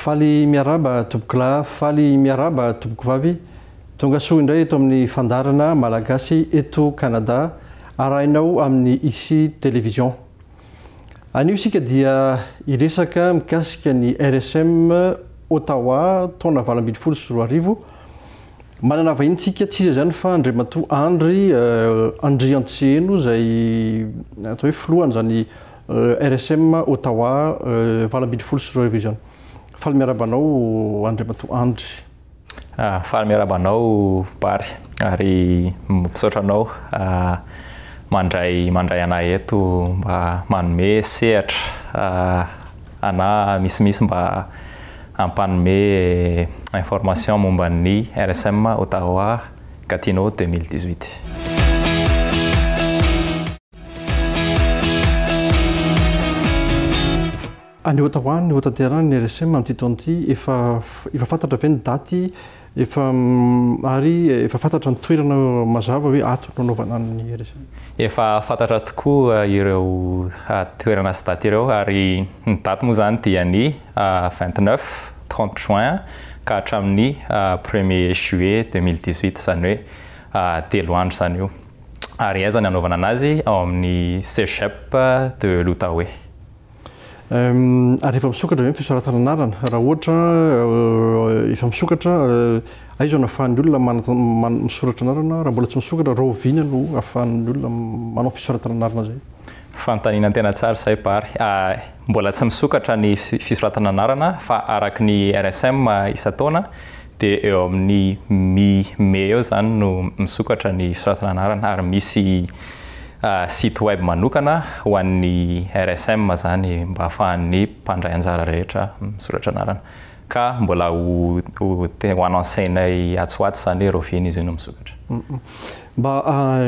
Faly miarahaba tompokolahy, faly miarahaba tompokovavy, tongasoa indray eto amin'ny fandaharana Malagasy eto Canada arahinao amin'ny Ici Télévision. Anio isika dia hiresaka mikasika ny RSM Ottawa taona valo ambin'ny folo sy roa arivo. Manana vahinintsika tsy iza izany fa Andriamatoa Andry Andriantsiheno izay atao hoe filohan'izany RSM Ottawa valo ambin'ny folo sy roa arivo izao. Faly miarahaba anao Andriamatoa Andry. Faly miarahaba anao Bary ary misaotra anao mandray mandray anà eto mba manome sehatra anà misimisy mba hampanome information momba ny RSM Ottawa Gatineau deux mille dix-huit. Any ota ho any, hotanterana ny RSM amin'ity taona ity, efa efa fantatra ve ny daty efa mm, ary efa fantatra ny toerana mazava hoe ato no anaovana ny RSM? Efa fantatra tokoa eh, ireo eh, toerana sy daty ireo ary ny daty moa izany dia ny 29, eh, 30 juin ka hatramin'ny premier juillet 2018 izany hoe telo andro izany io. Ary aiza ny hanaovana anazy ao amin'ny Cégep de l'Outaouais? Ary efa misokatra ve ny fisoratana anarana? Raha ohatra efa misokatra, aiza no ahafahan'ny olona misoratra anarana? Raha mbola tsy misokatra, rahoviana no ahafahan'ny olona manao fisoratana anarana izay? Fanontaniana tena tsara izay Bary. Mbola tsy misokatra ny fisoratana anarana fa araka ny RSM isan-taona, Dia eo amin'ny mi, mey eo izany no misokatra ny fisoratana anarana ary misy site web manokana ho an'ny RSM izany mba hahafahan'ny mpandray anjara rehetra misoratra anarana. Ka mbola ho, ho, ho anoncenay atsy ho atsy izany hoe Rovina izy io no misokatra. Mba,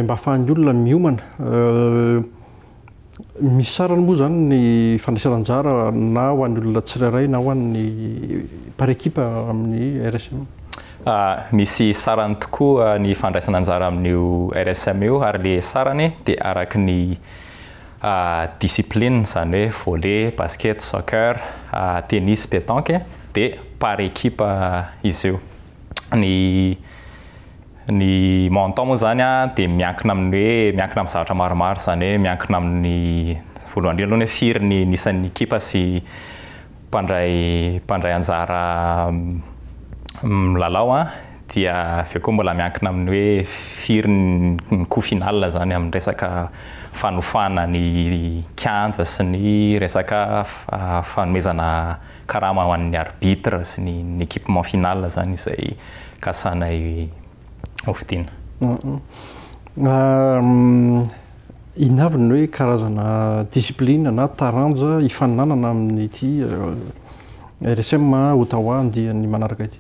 mba hahafahan'ny olona miomana. Misy sarany moa izany ny fandraisana anjara na ho an'ny olona tsirairay na ho an'ny par équipe amin'ny RSM? Misy sarany tokoa ny fandraisana anjara amin'io RSM io ary le sarany dia araky ny discipline izany hoe volley, basket, soccer, tennis, pétanque dia par équipe izy io. ny ny montant moa zany a de miankina amin'ny hoe miankina amin'ny zavatra maromaro izany hoe miankina amin'ny voalohany indrindra aloha ny hoe firy ny ny isan'ny ekipa sy mpandray mpandray anjara milalao a, dia avy eo koa mbola miankina amin'ny hoe firy ny coût final zany amin'ny resaka fanofana ny kianja sy ny resaka fanomezana Karama ho an'ny arbitre sy ny ny équipement final zany izay kasanay ho fidiana. Inona avy ny hoe karazana discipline na taranja hifaninanana amin'ity RSM Ottawa andiany manaraka ity?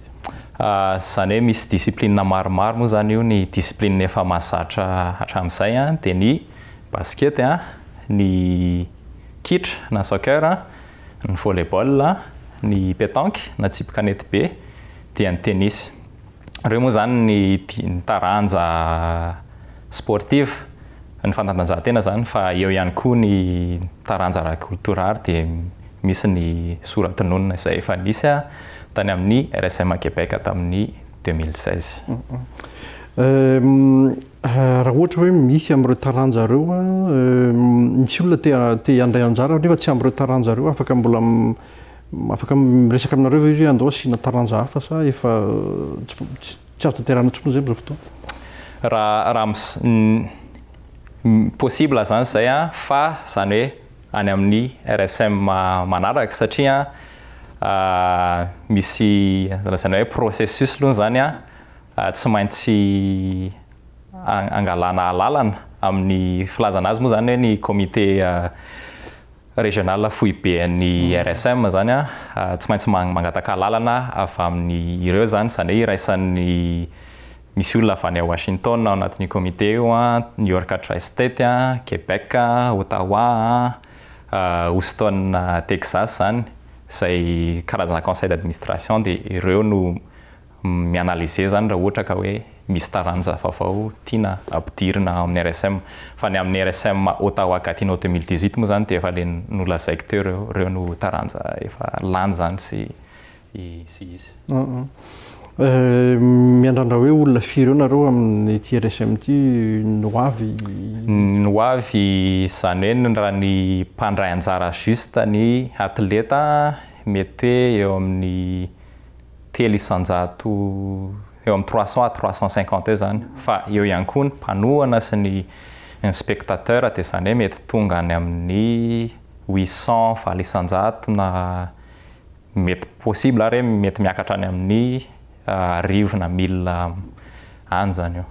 Izany hoe misy discipline maromaro moa zany io, ny discipline efa mahazatra hatramin'izay dia ny basket, ny kitra na soccer, ny volley-ball, ny petanque na tsipy kanety be dia ny tennis. Ireo moa izany ny ny taranja sportive, ny fanatanjahantena izany fa eo ihany koa ny taranja ara-kolotorary dia misy ny soratononina izay efa nisy tany amin'ny RSM Québec tamin'ny deux mille seize. Raha ohatra hoe misy amin'ireo taranja ireo, misy olona te te handray anjara nefa tsy amin'ireo taranja ireo, afaka mbola afaka miresaka aminareo ve izy hoe andao asiana taranja hafa sa efa tsy tsy azo tanterahina intsony izay amin'izao fotoana? Raha raha mis possible izany izay an, fa izany hoe any amin'ny RSM manaraka satria an misy izany hoe processus aloha izany an tsy maintsy angalana alalana amin'ny filazana azy moa izany hoe ny comité régional foiben'ny RSM izany an, tsy maintsy mangataka alalana avy amin'ireo izany, izany hoe iraisan'ny, misy olona avy any Washington ao anatin'io comité io an, New York Tri-State an, Québec an, Ottawa an, Houston Texas izany, izay karazana conseil d'administration dia ireo no mi-analyser izany raha ohatra ka hoe misy taranja vaovao tiana ampidirina ao amin'ny RSM. Fa ny amin'ny RSM Ottawa Gatineau deux mille dix-huit moa izany dia efa ilay nolazaiko teo ireo, ireo no taranja efa lany izany sy sy hisy. Miandrandra hoe olona firy eo nareo amin'ity RSM ity ny ho avy? Ny ho avy izany hoe ny raha ny mpandray anjara juste ny atleta mety hoe eo amin'ny telo isan-jato, eo amin'ny trois cents à trois cents cinquante eo izany, fa eo ihany koa ny mpanohana sy ny ny spectateurs dia izany hoe mety tonga any amin'ny huit cents, valo isan-jato na mety possible ary hoe mety miakatra any amin'ny arivo na mille any izany eo.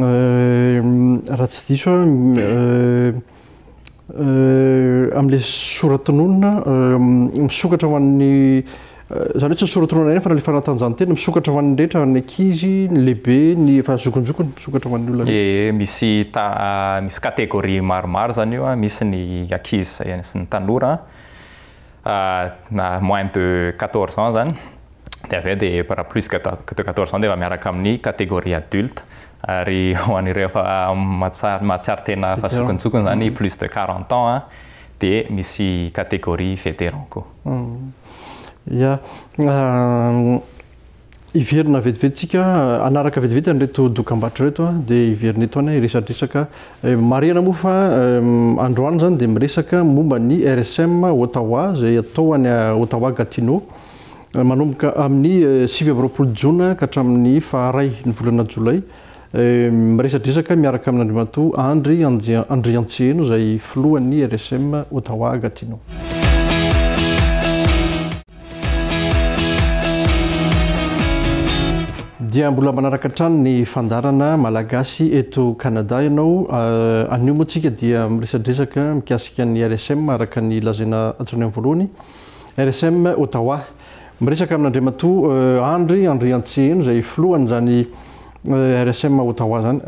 Raha tsy diso aho, amin'ilay soratononina misokatra ho an'ny izany hoe tsy ny soratononana ihany fa na ilay fanatanjahantena misokatra ho an'ny rehetra, ny ankizy, ny lehibe, ny efa zokinjokiny misokatra ho an'ny olona rehetra. Ie, misy ta misy catégorie maromaro izany io a, misy ny ankizy sy ny tanora a. na moins de quatorze ans zany de avy eo de raha plus que de quatorze ans de efa miaraka amin'ny catégorie adulte ary ho an'ireo efa mahatsiaro mahatsiaro tena efa zokintsokiny zany plus de quarante ans an de misy catégorie vétéran koa. Ia. hiverina vetivety tsika hanaraka vetivety an'ireto dokam-barotra ireto dia hiverina eto any hiresadresaka marihana moa fa androany izany dia miresaka momba ny RSM Ottawa izay atao any Ottawa Gatineau manomboka amin'ny sivy amby roapolo jona ka hatramin'ny faharay ny volana jolay Miresadresaka miaraka amin'Andriamatoa Andry Andriantsiheno izay filohan'ny RSM Ottawa Gatineau. Dia mbola manaraka hatrany ny fandaharana Malagasy eto Canada ianao. Anio moa tsika dia miresadresaka mikasika ny RSM araka ny lazaina hatrany amin'ny voalohany. RSM Ottawa. Miresaka amin'Andriamatoa Andry Andriantsiheno izay filohan'izany RSM Ottawa izany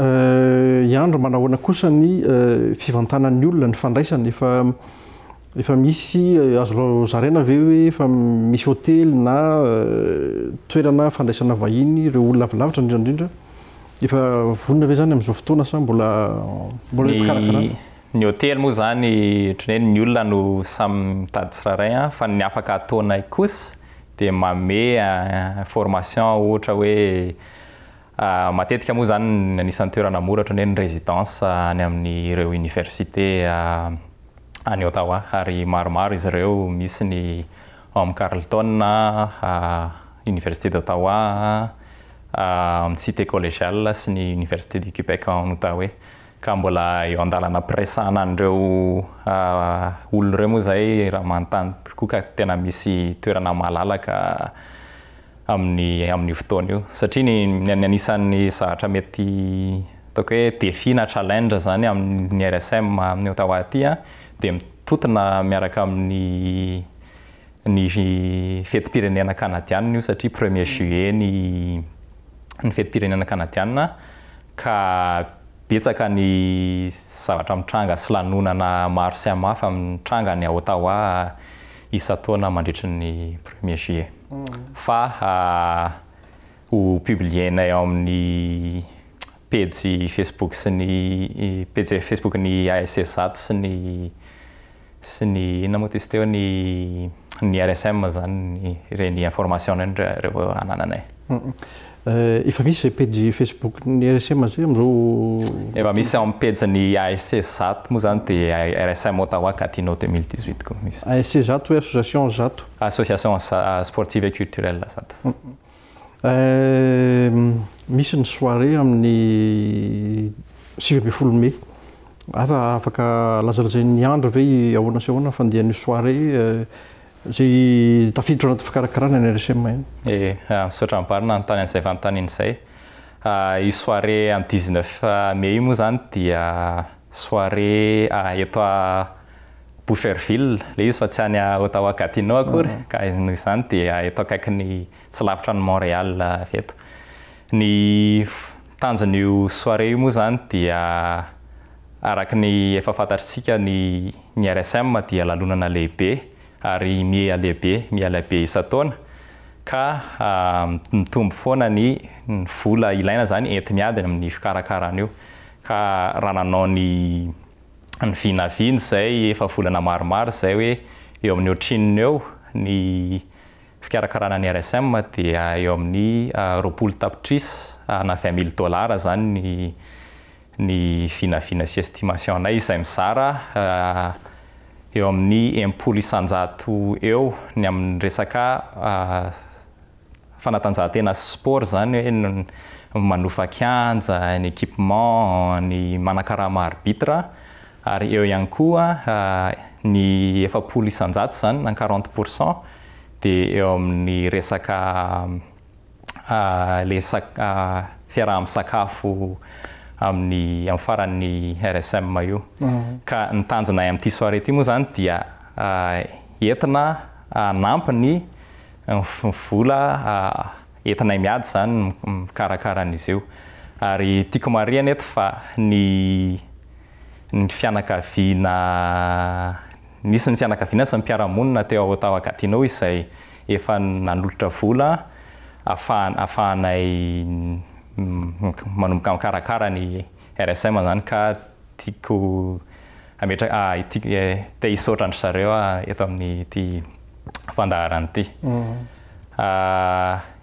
i Andry, manahoana kosa ny fivantanan'ny olona, ny fandraisany, efa efa misy azo zaraina ve hoe efa misy hotely na toerana fandraisana vahiny ireo olona avy lavitra indrindra indrindra, efa vonona ve izany amin'izao fotoana sa mbola mbola mpikarakara? Ny hotely moa izany ohatran'ny hoe ny olona no samy mitady tsirairay an, fa ny afaka ataonay kosa dia manome information ohatra hoe matetika moa izany ny anisan'ny toerana mora ohatran'ny hoe ny residence any amin'ireo université any Ottawa ary maromaro izy ireo, misy ny ao amin'ny Carlton an, université d'Ottawa an, amin'ny cité collegiale sy ny université du Québec en Outaouais. ka mbola eo andalana ampiresahana an'ireo olona ireo moa izay raha manontany tokoa ka tena misy toerana malalaka amin'ny amin'io fotoana io satria ny ny anisan'ny zavatra mety ataoko hoe défi na challenge izany amin'ny RSM amin'ny Ottawa aty a dia mitotona miaraka amin'ny ny fetim-pirenena kanadianina io satria premier juillet ny ny fetim-pirenena kanadianina ka betsaka ny zavatra mitranga sy lanonana maro samihafa mitranga any Ottawa isan-taona mandritry ny premier juillet fa ho publier-nay ao amin'ny pejy facebook sy ny pejy facebook-n'ny ASSAT sy ny sy ny inona moa tys teo ny ny RSM zany ny ireny information ireny revo anananay. Efa misy zay pejy facebook ny RSM zay amzao? Efa misy ao am pejy ny ASC zato moa zany de RSM Ottawa Gatineau 2018 koa misy. ASC zato hoe association zato? Association sportive et culturelle zato. Misy ny soirée amin'ny sivy ambin'ny folo mai. Ava afaka lazalazain'i Andry ve ahoana sy ahoana ny fandehan'io soirée izay tafiditra ao anaty fikarakarana ny RSM io? Ee, misaotra am-bary nanontany an'izay fanontaniana izay. Io soirée amin'ny dix neuf mai io moa izany dia soirée eto. Boucherville, ilay izy fa tsy any Ottawa-Gatineau akory, ka noho izany dia eto akaikin'ny, tsy lavitra an'i Montréal avy eto. Ny tanjon'io soirée io moa izany dia araka ny efa fantatr'tsika ny ny RSM dia lalonana lehibe ary miha lehibe, miha lehibe isan-taona ka mitombo foana ny ny vola ilaina izany enti-miady amin'ny fikarakarana io ka raha nanao ny ny vinavina izay efa volana maromaro izay hoe eo amin'ny ohatrinona eo ny fikarakarana ny RSM dia eo amin'ny roapolo tapitrisa na vingt mille dollars izany ny ny vinavina sy estimation-nay izay mizara eo amin'ny enimpolo isan-jato eo ny amin'ny resaka fanatanjahantena sy sport izany hoe ny manofa kianja, ny equipement, ny manakarama arbitre ary eo ihany koa ny efapolo isan-jato izany na quarante pour cent dia eo amin'ny resaka ilay fiaraha-misakafo amin'ny amin'ny faran'ny RSM io. Ka ny tanjonay amin'ity soirée ity moa izany dia entina hanampy ny vola entinay miady izany mikarakara an'izy io ary tiako marihana eto fa ny ny fianakaviana nisy ny fianakaviana sy ny mpiara-monina teo Ottawa Gatineau izay efa nanolotra vola afahana afahanay manomboka mikarakara ny RSM izany ka Tiako hametraka, te hisaotra an-dry zareo aho eto amin'ity fandaharana ity.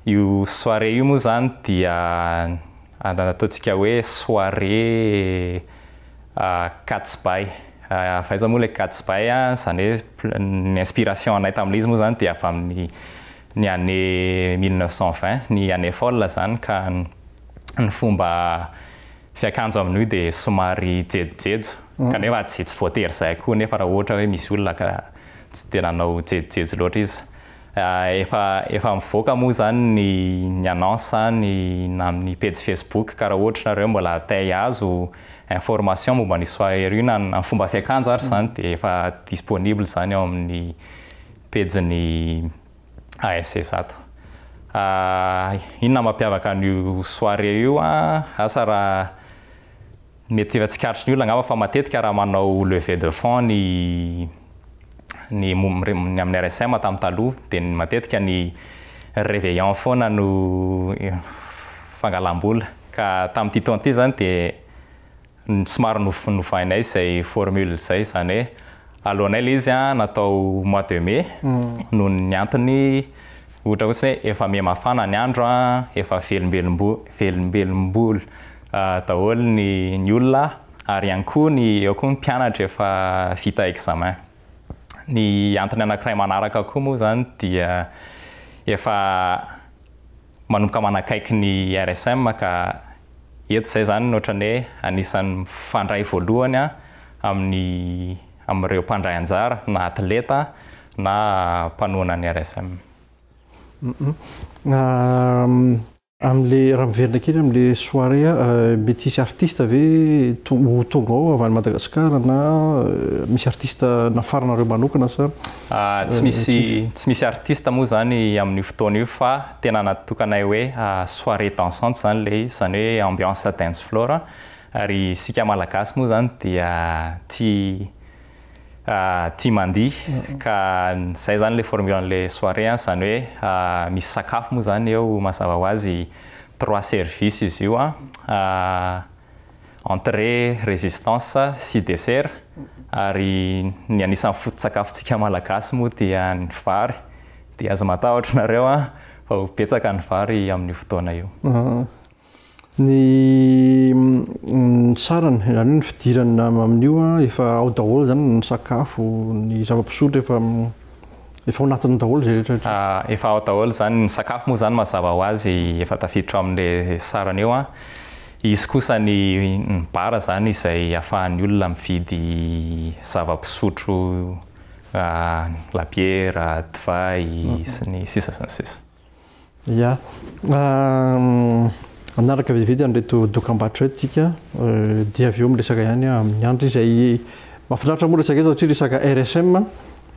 Io soirée io moa izany dia ataontsika hoe soirée Katsbay. Fa aiza moa ilay Katsbay an, izany hoe ny inspiration anay tamin'ilay izy moa izany dia avy amin'ny ny année mille neuf cent vingt, ny année folle izany ka ny fomba Fiakanjo amin'io hoe dia somary jejojejo kanefa tsy tsy voatery izay koa nefa raha ohatra hoe misy olona ka tsy dia nanao jejojejo loatra izy. Efa efa mivoaka moa izany ny ny annonce any na amin'ny pejy facebook ka raha ohatra ianareo mbola te hihazo information momba ny soirée io na ny fomba fiakanjo ary izany dia efa disponible izany ao amin'ny pejin'ny ASC zato. Ah, inona mampiavaka an'io soirée io an? Asa raha mety efa tsikaritry ny olona angamba fa matetika raha manao levée de fonds ny ny ny amin'ny RSM tamin'ny taloha dia ny matetika ny réveillon foana no fangalam-bola ka tamin'ity taona ity izany dia somary novainay izay formule izay, izany hoe aloanay ilay izy natao mois de mai noho ny antony ohatra hoe efa may mafana ny andro efa velombelom-bolo daholo ny olona ary ihany koa ny eo koa ny mpianatra efa vita examen. Ny antony anakiray manaraka koa moa izany dia efa manomboka manakaiky ny RSM ka eto izay izany no ohatran'ny hoe anisan'ny mifandray voalohany amin'ny amin'ireo mpandray anjara na atleta na mpanohana ny RSM. Amin'ilay, raha miverina kely amin'ilay soirée, mety hisy artiste ve ho tonga ao avy any Madagasikara na misy artiste nafarinareo manokana sa? Tsy misy tsy misy artiste moa izany amin'io fotoana io fa tena natokanay hoe soirée dansante izany ilay izy, izany hoe ambiance dance floor ary isika Malagasy moa izany dia tia tia mandihy ka izay izany ilay formule an'ilay soirée an, izany hoe misy sakafo moa izany eo mazava ho azy, trois services izy io an. entrée, résistance sy dessert ary ny anisan'ny foto-tsakafontsika malagasy moa dia ny vary dia aza matahotra nareo an fa ho betsaka ny vary amin'io fotoana io. Ny sarany izany hoe ny fidirana amin'io an efa ao daholo izany ny sakafo, ny zava-pisotro efa Efa ao anatiny daholo izay rehetra rehetra. Efa ao daholo izany, ny sakafo moa izany mazava ho azy efa tafiditra ao amin'ilay sarany eo an. Hisy kosa ny bar izany izay ahafahan'ny olona mividy zava-pisotro, labiera, divay sy ny sisa sy ny sisa. Ya, hanaraka vetivety an'ireto dokambarotra ireto isika dia avy eo miresaka ihany amin'ny andry izay mahafinaritra moa resaka eto satria resaka RSM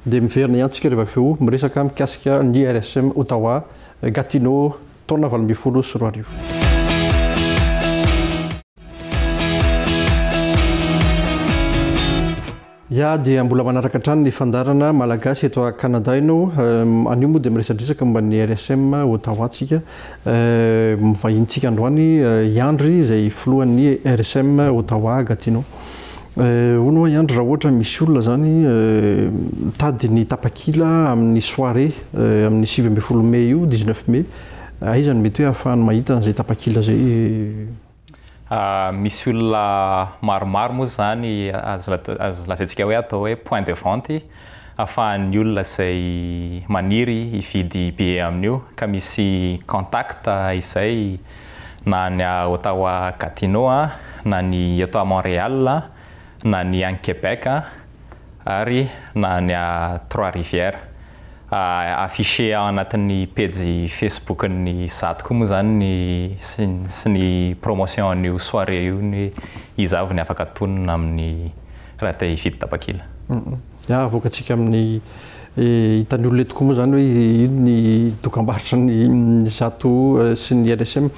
dia miverina ihany isika rehefa avy eo miresaka mikasika ny RSM Ottawa Gatineau taona valo ambin'ny folo sy roa arivo. Ya dia mbola manaraka hatrany ny fandaharana Malagasy eto a Canada ianao eh, anio moa dia miresadresaka momba ny RSM Ottawa tsika eh, mivahintsika androany eh, i Andry izay filohan'ny RSM Ottawa Gatineau eh, hono hoa i Andry raha ohatra misy olona zany eh, mitady ny tapakila amin'ny soirée eh, amin'ny sivy ambin'ny folo mey io, dix-neuf mey, aiza no mety hoe ahafahany mahita an'izay tapakila izay eh, Misy olona maromaro moa izany azo lazaintsika hoe atao hoe point de vente afahan'ny olona izay maniry hividy billet amin'io ka misy contact izay na any Ottawa Gatineau na ny eto Montréal na ny any Québec. ary na ny Trois Rivières. Afficher ao anatin'ny pejy Facebook-n'ny Zad koa moa izany ny sy ny promotion an'io soirée io ny iza avy ny afaka tonina amin'ny raha te hifidy tapakila. Dia havoakantsika amin'ny. Hitan'ny olona eo tokoa moa izany hoe inona ny dokambarotra ny zato sy ny LSM.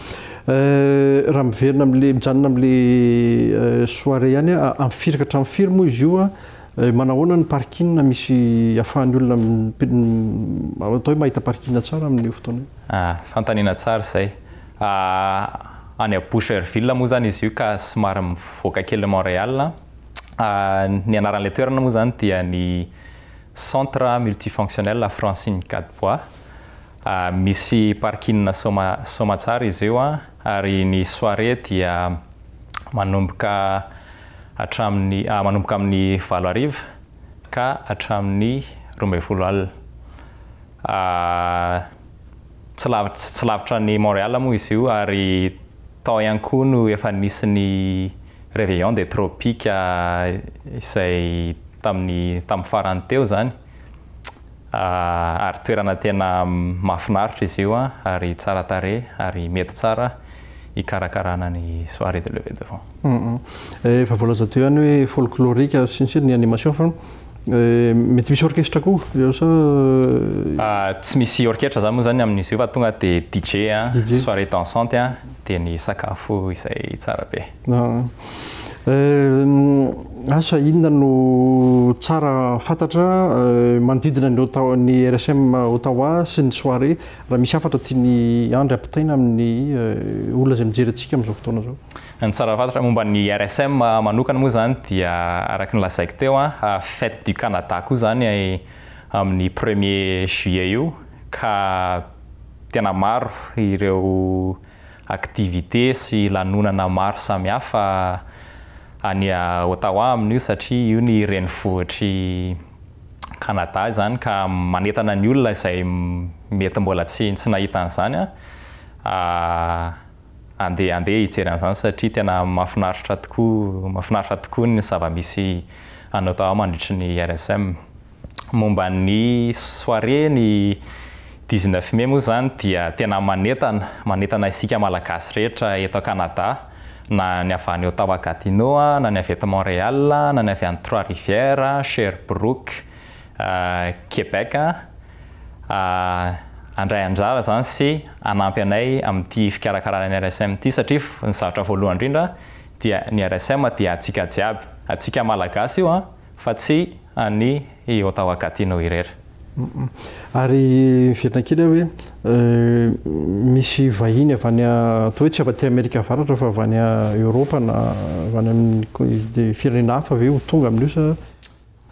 Raha miverina amin'ilay, mijanona amin'ilay soirée ihany aho, amin'ny firy ka hatramin'ny firy moa izy io? Manao ahoana ny parking misy ahafahan'ny olona atao hoe mahita parking tsara amin'io fotoana io? Fanontaniana tsara izay. Any à Boucherville moa izany izy io ka somary mivoaka kelin'i Montréal. Ny anaran'ilay toerana moa izany dia ny Centre Multifonctionnel à Francine Gadebois. Misy parking Soma Soamatsara izy io ary ny soirée dia manomboka hatramin'ny manomboka amin'ny valo hariva ka hatramin'ny roa ambin'ny folo alina. Tsy lavitra tsy lavitra an'i Montréal moa izy io ary. Tao ihany koa no efa nisy ny Réveillon des Tropiques izay tamin'ny tamin'ny farany teo izany ary toerana tena mahafinaritra izy io ary tsara tarehy ary mety tsara hikarakarana ny soirée de levée de fonds. Efa voalaza teo ihany hoe folklorique sy ny sisa ny animation fa. Eh, mety misy orchestre koa eo sa eh, Ah, tsy misy orchestre zany moa zany amin'izy io fa tonga de DJ a, DJ. soirée dansante a, de ny sakafo izay tsara be. na eh, asa inona no tsara fantatra eh, manodidina ny Ottawa ny RSM Ottawa sy ny soirée raha misy hafatra tian'i Andry ampitaina amin'ny eh, olona izay mijery antsika amin'izao fotoana izao. Ny tsara fantatra momba ny RSM manokana moa izany dia araka ny lazaiko teo, fête du Canada koa izany amin'ny premier juillet io ka tena maro ireo activités sy lanonana maro samihafa any Ottawa amin'io satria io ny renivohitr'i Canada izany ka manentana ny olona izay mety mbola tsy nahita an'izany Andeha andeha hijery an'izany satria tena mahafinaritra tokoa mahafinaritra tokoa ny zava-misy anao daholo mandritry ny RSM. Momba ny soirée ny dix neuf mai moa izany dia tena manentana, manentana isika Malagasy rehetra eto Canada na ny avy any Ottawa Gatineau, na ny avy eto Montréal, na ny avy any Trois Rivières, Sherbrooke, Québec handray anjara izany sy hanampy anay amin'ity fikarakarana ny RSM ity satria ny zavatra voalohany indrindra dia ny RSM dia antsika jiaby, antsika Malagasy io fa tsy an'i Ottawa Gatineau irery. Ary miverina kely aho hoe misy vahiny avy any atao hoe tsy avy aty Amerika Avaratra fa avy any Eoropa na avy any amin'ny firenena hafa ve ho tonga amin'io sa?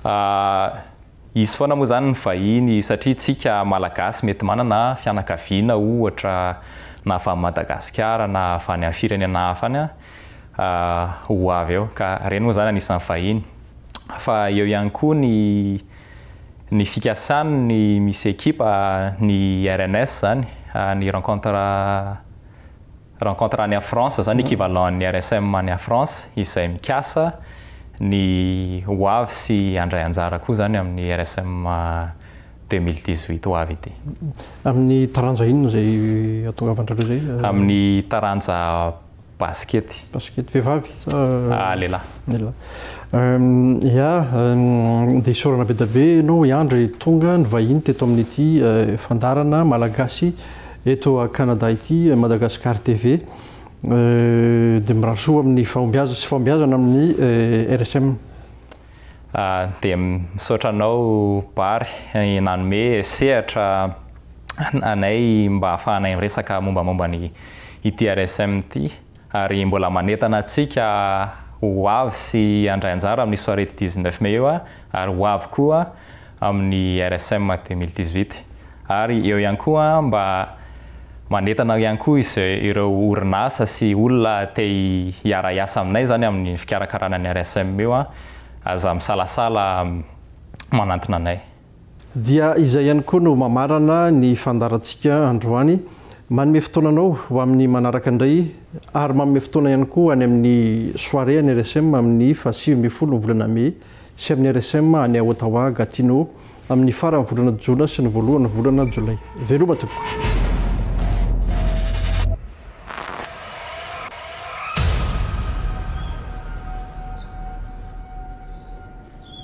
Ahh hisy foana moa zany ny vahiny satria tsika malagasy mety manana fianakaviana ohatra na avy any Madagasikara na avy any am firenena hafa any ahh ho avy eo ka reny moa zany anisan'ny vahiny fa eo ihany koa ny ny fikasany ny misy ekipa ny rns zany ny rencontre Rencontre any France zany equivalent an'ny RSM any France izay mikasa ny ho avy sy handray anjara koa zany amin'ny RSM deux mille dix huit ho avy ity. Amin'ny taranja inona izay ahatongavan'drareo izay? Amin'ny taranja basikety. Basikety. Vehivavy sa? Lehilahy. Lehilahy. Ya, dia isaorana be dia be ianao Andry, tonga ny vahiny teto amin'ity fandaharana Malagasy. Eto a Canada ity Madagascar TV dia mirary soa amin'ny fahombiazana sy fahombiazana amin'ny RSM. Dia misaotra anao Bary nanome sehatra anay mba ahafahanay miresaka mombamomba ny ity RSM ity. Ary mbola manentana antsika ho avy sy handray anjara amin'ny soirée du 19 mai io aho ary ho avy koa amin'ny RSM 2018. Ary eo ihany koa mba manentana ihany koa izay ireo orinasa sy olona te hiara-hiasa aminay izany amin'ny fikarakarana ny RSM io aza misalasala manantona anay. Dia izay ihany koa no mamarana ny fandaharantsika androany. Manome fotoana anao ho amin'ny manaraka indray ary manome fotoana ihany koa ho any amin'ny soirée an'ny RSM amin'ny faha sivy ambin'ny folo ny volana mey sy amin'ny RSM any Ottawa Gatineau amin'ny faran'ny volana jona sy ny voalohan'ny volana jolay. Veloma tompoko!